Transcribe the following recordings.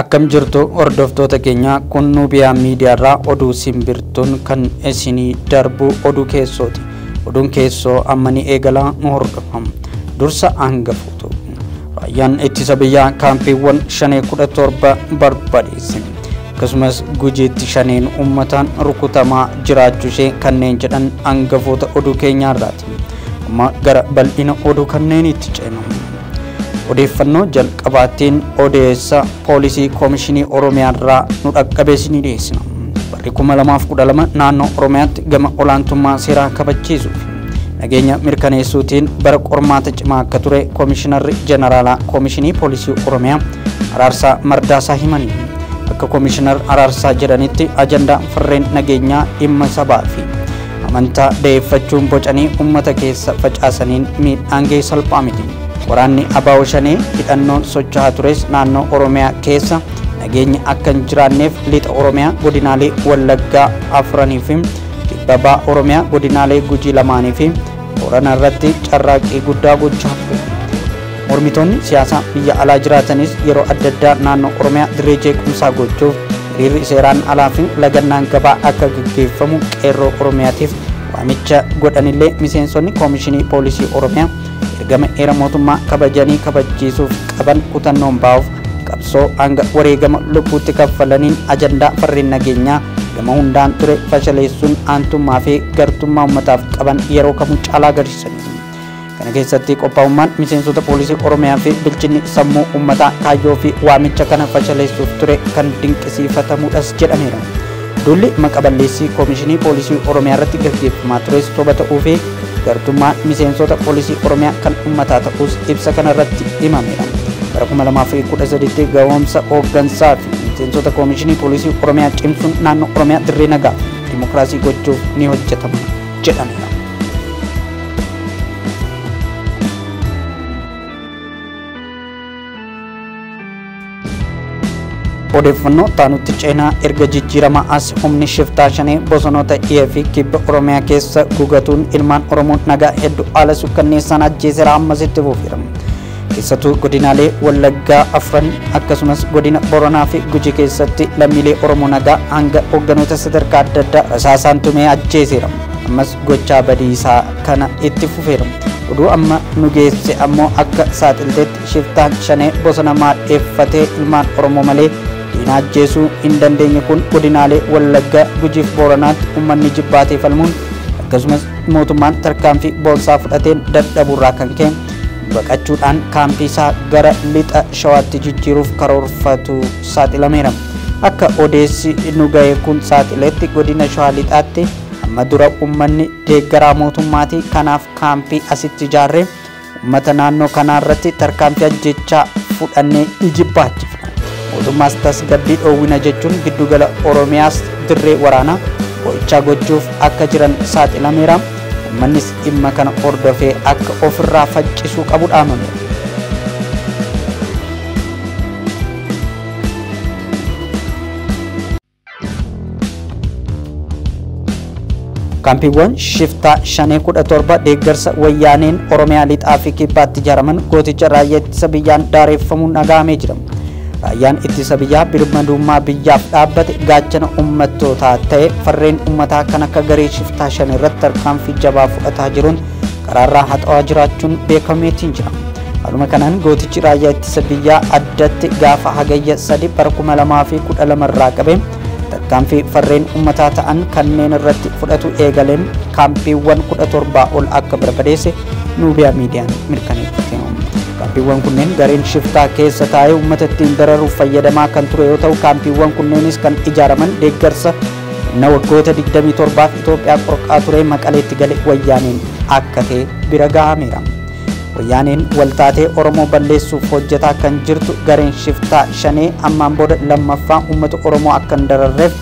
Akkam jirtu hordoftoota keenya kun Nuubiyaa miidiyaarraa oduu simbirtuun kan isinii darbu oduu keessooti. Oduun keessoo amma ni eegala nu hordofa. Dursa hangafuutu. Raayyaan ittisa biyyaa kaampiiwwan shanee kudha torba barbadeesse. Akkasumas gujiitti shaneen uummataan rukutamaa jiraachuu ishee kanneen jedhan hangafoota oduu keenyaarraati. Amma gara bal'ina oduu kanneeniitti ceenu. odeeffannoo jalqabaatiin odeessa poolisii koomishinii oromiyaarraa nu dhaqqabee isinii dhiyeessina barri 2012 naannoo oromiyaatti gama olaantummaa seeraa kabachiisuu fi nageenya mirkaneessuutiin bara qormaata cimaa akka ture koomishinarri jeneraalaa koomishinii poolisii oromiyaa araarsaa mardaasaa himanii akka koomishinar araarsaa jedhanitti ajandaa farreen nageenyaa dhimma sabaa fi Amantaa da'eeffachuun bocanii ummata keessa facaasaniin miidhaan ga'e salphaa miti. Waraanni Abaawo Shanee hidhannoon socho'aa tures naannoo Oromiyaa keessa nageenyi akka hin jiraanneef lixa Oromiyaa godinaalee Wallaggaa afranii fi kibba baha Oromiyaa godinaalee Gujii lamaanii fi Boorana irratti carraaqqii guddaa gochaa ture. Mormitoonni siyaasaa biyya alaa jiraatanis yeroo adda addaa naannoo Oromiyaa dirree jeequmsaa gochuuf hiriirri seeraan alaa fi lagannaan gabaa akka gaggeeffamu Qeerroo Oromiyaatiif waamicha godhanillee miseensonni Koomishinii Poolisii Oromiyaa ergama heera mootummaa kabajanii kabachiisuuf qaban kutannoon baa'uuf qabsoo hanga wareegama lubbuutti kaffalaniin ajandaa farreen nageenyaa gama hundaan ture fashaleessuun aantummaa fi gartummaa ummataaf qaban yeroo kamuu caalaa agarsiisaniiru. Kana keessatti qophaa'ummaan miseensota poolisii Oromiyaa fi bilchinni sammuu uummataa kaayyoo fi waamicha kana fashaleessuuf ture kan dinqisiifatamudhas jedhameera. Duulli maqa balleessii Koomishinii Poolisii Oromiyaa irratti gaggeeffamaa tures soba ta'uu fi gartummaa miseensota poolisii Oromiyaa kan uummataa ta'uus ibsa kana irratti himameera. Bara 2013tti ga'oomsa hooggansaa fi miseensota Koomishinii Poolisii Oromiyaa cimsuun naannoo Oromiyaa dirree nagaa dimokiraasii gochuuf ni hojjetama. jedhameera. odeeffannoo taanutti ceenaa erga jijjiirama as humni shiftaa shanee bosonoota dhiyee fi kibba oromiyaa keessa gugatuun ilmaan oromoo nagaa hedduu haala sukkanneessaan ajjeeseera ammas itti fufiira Keessattuu godinaalee Wallaggaa afran akkasumas godina Boranaa fi Guji keessatti lammiilee Oromoo nagaa hanga hoogganoota sadarkaa adda addaa rasaasaan tumee ajjeeseera. Ammas gochaa badii isaa kana itti fufeera. Oduu amma nu geesse ammoo akka saaxiltetti shiftaan shanee bosona maadheeffatee ilmaan Oromoo malee diina ajjeesuu hin dandeenye kun godinaalee Wallaggaa Gujiif Booranaatti uummanni jibbaatee falmuun akkasumas mootummaan tarkaanfii boonsaa fudhateen dadhabuurraa kan ka'e baqachuudhaan kaampii isaa gara lixa shawaatti jijjiiruuf karoorfatu saaxilameera. Akka odeessi nu ga'e kun saaxiletti godina shawaa lixaatti amma dura uummanni deeggaraa mootummaati kanaaf kaampii asitti ijaarree uummata naannoo kanaa irratti tarkaanfii ajjechaa fudhannee ijibbaachifna. Mootummaas tasgabbii dhoowwina jechuun giddugala Oromiyaas dirree waraanaa qorichaa gochuuf akka jiran saaxilameera. Ummannis dhimma kana hordofee akka ofirraa faccisuu qabu dhaamame. Kaampiiwwan shiftaa shanee kudha torba deeggarsa wayyaaneen Oromiyaa lixaa fi kibbaatti ijaaraman gooticha raayyaa ittisa biyyaan daareffamuun dhagahamee jira. Raayyaan ittisa biyyaa birmadummaa biyyaaf dhaabbate gaachana ummattootaa ta'e farreen ummataa kan akka garee shiftaa shan irratti tarkaanfii jabaa fudhataa jiruun karaarraa haxawaa jiraachuun beekameetiin jira. Haaluma kanaan gootichi raayyaa ittisa biyyaa addatti gaafa hagayya 3 bara 2012 irraa qabee tarkaanfii farreen ummataa ta'an kanneen irratti fudhatu eegaleen kaampiiwwan 17 ol akka barbadeesse Nuubiyaa Miidiyaan mirkaneeffate. Kaampiiwwan kunneen gareen shiftaa keessa taa'ee uummata ittiin dararuuf fayyadamaa kan ture yoo ta'u, kaampiiwwan kunneenis kan ijaaraman deeggarsa humna waggoota 27f Itoophiyaa qorqaa ture Maqaleetti gale Wayyaaneen akka ta'e bira gahameera. Wayyaaneen waltaatee Oromoo balleessuuf hojjetaa kan jirtu gareen shiftaa Shanee ammaan booda lammaffaa uummata Oromoo akka hin dararreef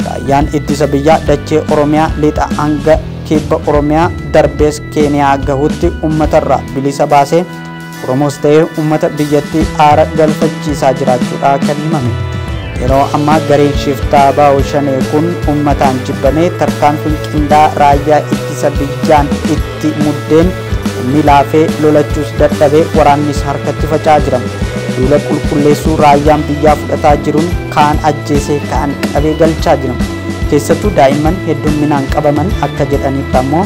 raayyaan ittisa biyyaa dachee Oromiyaa lixa hanga kibba Oromiyaa darbees Keeniyaa gahutti ummatarraa bilisa baasee Oromoos ta'ee ummata biyyattii aara galfachiisaa jiraachuudha kan himame. Yeroo ammaa gareen shiftaa baa'u shanee kun ummataan jibbamee tarkaanfiin qindaa raayyaa ittisa biyyaan itti muddeen inni laafee lolachuus dadhabee waraannis harkatti faca'aa jira. Duula qulqulleessuu raayyaan biyyaa fudhataa jiruun kaan ajjeesee kaan qabee galchaa jira. Keessattuu daa'imman heddumminaan qabaman akka jedhanitti ammoo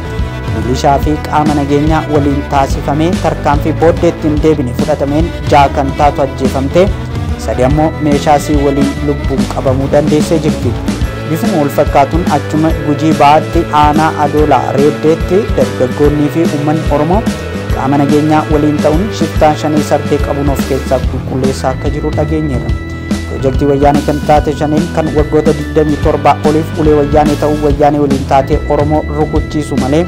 milishaa fi qaama nageenyaa waliin taasifamee tarkaanfii booddeetti hin deebine fudhatameen ja'a kan taatu ajjeefamte sadi ammoo meeshaa sii waliin lubbuun qabamuu dandeessee jirti. Bifuma wal fakkaatuun achuma gujii ba'aatti aanaa adoolaa reeddeetti dargaggoonnii fi uummanni Oromoo qaama nageenyaa waliin ta'uun shiftaan shanee sartee qabuun of keessaa qulqulleessaa akka jiru dhageenyeerra. Pirojektii wayyaanee kan taate shaneen kan waggoota 27 oliif ulee wayyaanee ta'uu wayyaanee waliin taatee Oromoo rukuchiisu malee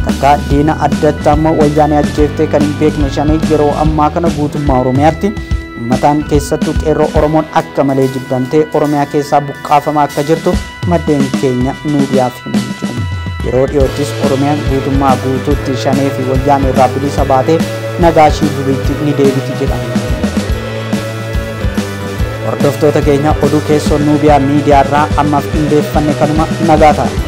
takkaa diina addatti ammoo wayyaanee ajjeeftee kan hin beekne shanee yeroo ammaa kana guutummaa Oromiyaatti ummataan keessattuu qeerroo Oromoon akka malee jibbamtee Oromiyaa keessaa buqqaafamaa akka jirtu maddeen keenya miidiyaaf himanii jiru. Yeroo dhiyoottis Oromiyaan guutummaa guutuutti shanee fi wayyaanee irraa bilisa baatee nagaa ishii duriitti ni deebiti jedhama. Hordoftoota keenya oduu keessoo Nuubiyaa miidiyaa irraa ammaaf qindeeffanne kanuma nagaa ta'a.